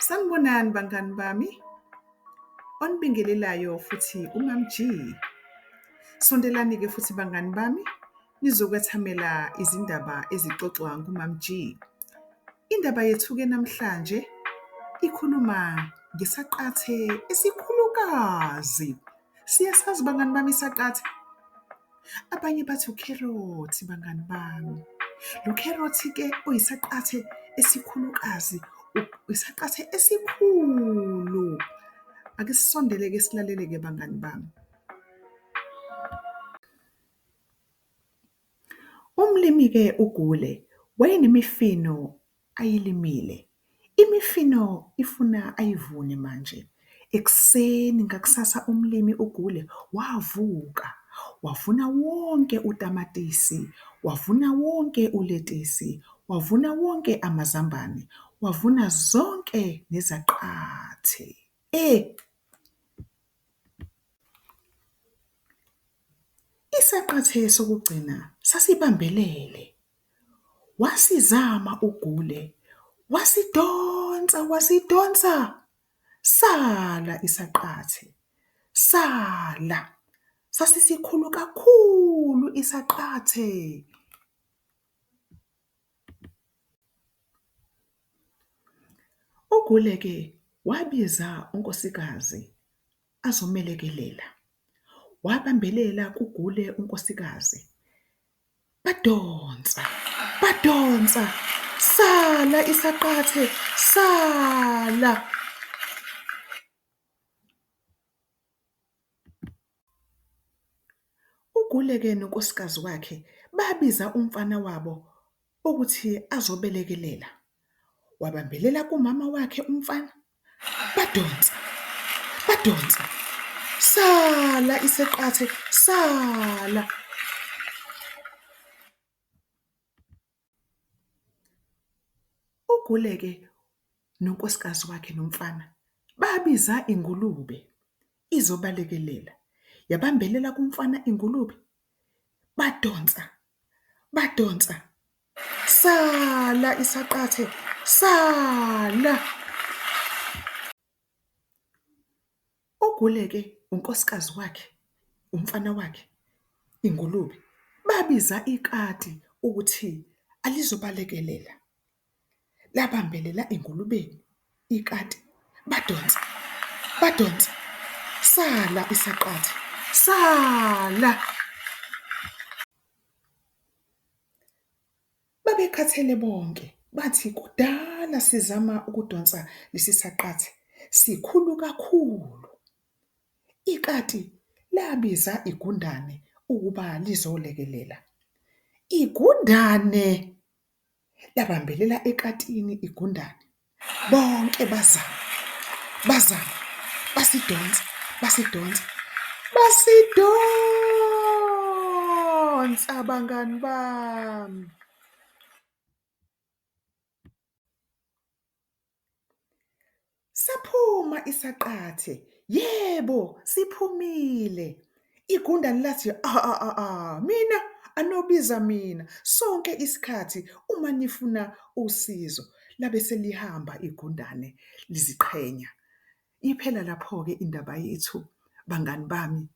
Sanibonani bangani bami. Onibingelelayo futhi uMam G. Sondelani-ke futhi bangani bami nizokwethamela izindaba ezixoxwa nguMam G. Indaba yethu-ke namhlanje ikhuluma ngesaqathe esikhulukazi Siye sazi bangani bami isaqatha. Abanye bathi ukherothi bangani bami. Lo kherothi-ke oyisaqathe esikhulukazi, isaqathe esikhulu. Ake sisondele-ke silalele-ke bangani bami. Umlimi-ke uGule wayenemifino ayilimile imifino ifuna ayivune manje ekuseni ngakusasa umlimi uGule wavuka wavuna wonke utamatisi, wavuna wonke uletisi, wavuna wonke amazambane, wavuna zonke nezaqathi. Isaqathi sokugcina sasibambelele wasizama uGule wasidonsa wasidonsa sala isaqathi sala sasisikhulu kakhulu isaqathe. UGule-ke wabiza unkosikazi azomelekelela wabambelela kuGule unkosikazi Badonsa, badonsa, sala isaqathe, sala! UGuleke nonkosikazi wakhe babiza umfana wabo ukuthi azobelekelela. Wabambelela kumama wakhe umfana. Badonsa, badonsa, sala iseqathe, sala. UGule-ke nonkosikazi wakhe nomfana babiza ingulube izobalekelela. Yabambelela kumfana ingulube, badonsa, badonsa. Sala isaqathe. Sala. Oguleke unkosikazi wakhe, umfana wakhe, ingulube babiza ikati ukuthi alizobalekelela. Labambelela engulubeni ikati badonsa, badonsa. Sala isaqathe. Sala. Babekhathele bonke, bathi kudala sizama ukudonsa lesi saqathi, sikhulu kakhulu. Ikati labiza igundane ukuba lizolekelela. Igundane! labambelela ekatini igundane. bonke bazama bazama basidonsa basidonsa basidonsa bangani bami saphuma isaqathe yebo siphumile Igundane lathi, a-a-a-a, mina, anobiza mina, sonke isikhathi uma nifuna usizo. Labe selihamba igundane liziqhenya. Iphela lapho-ke indaba yethu, bangani bami,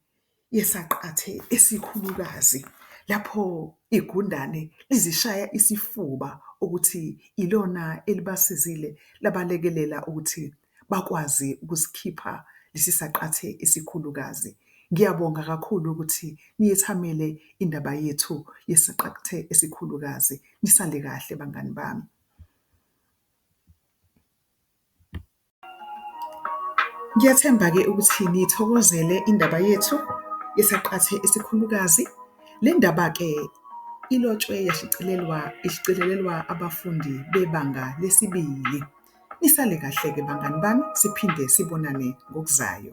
yesaqathe esikhulukazi lapho igundane lizishaya isifuba ukuthi ilona elibasizile labalekelela ukuthi bakwazi ukusikhipha lesi saqathe esikhulukazi. Ngiyabonga kakhulu ukuthi niyethamele indaba yethu yesaqathe esikhulukazi. Nisale kahle bangani bami. Ngiyathemba-ke ukuthi niyithokozele indaba yethu yesaqathe esikhulukazi. Le ndaba-ke ilotshwe yashicilelwa ishicilelelwa abafundi bebanga lesibili. Nisale kahle ke bangani bami siphinde sibonane ngokuzayo.